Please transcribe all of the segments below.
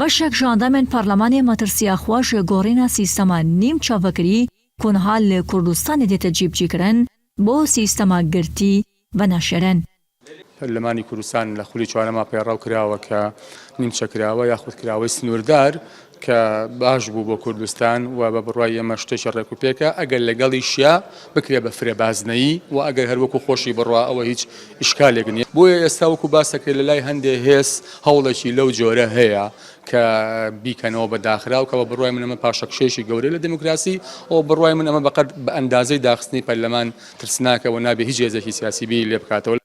بەشێک ژاندامێن پارلەمانێ مەترسیا خوەش گۆڕینا سیستەما نیم چەڤکری کونها ل کوردستانێ دێتە جیبجی کرن بۆ سیستەما گرتی ڤە ناشێرێن. پەرلەمانی کوردستان لە خولی چوارەما پەیڕەو کراوە کە نیمچە کراوە یاخود کراوەی سنووردار کە باش بوو بۆ کوردستان و بە بڕوای ئێمە شتێکی ڕێکوپێکە ئەگەر لەگەڵیشیا بکرێت بە فرە بازنەیی و ئەگەر هەر وەکو خۆشی بڕا ئەوە هیچ ئیشکالێک نیە بۆیە ئێستا وەکو باس دەکرێت لەلای هەندێ هێز هەوڵێکی لەو جۆرە هەیە کە بیکەنەوە بە داخراو کە بە بڕای من ئەمە پاشەکشێکی گەورەی لە دموکراسی ئەو بڕای من ئەمە بەقەد بە ئەندازەی داخستنی پەرلەمان ترسناکە و نابێ هیچ هێزێکی سیاسی بی لێ بکاتەوە.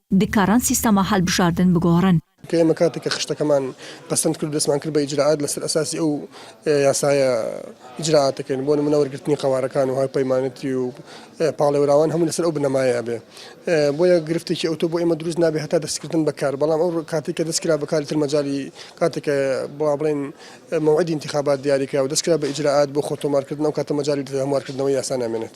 دکارن سیستەما هەلبژاردن بگۆڕن. کە ئێمە کاتێک کە خشتەکەمان پەسەند کرد و دەستمان کرد بە ئیجرائات لەسەر ئەساسی ئەو یاسایە ئیجرائات دەکەین بۆ نموونە وەرگرتنی قەوارەکان و هاوپەیمانێتی و پاڵێوراوان هەموو لەسەر ئەو بنەمایە ئەبێ بۆیە گرفتێکی ئەوتۆ بۆ ئێمە دروست نابێ هەتا دەستکردن بەکار بەڵام ئەو کاتێک کە دەستکرا بەکاری تر مەجالی کاتێک کە بڵا بڵێن مەوعدی انتخابات دیاریکرا و دەستکرا بە ئیجرائات بۆ خۆ تۆمارکردن ئەو کاتە مەجالی هەموارکردنەوەی یاسا نامێنێت.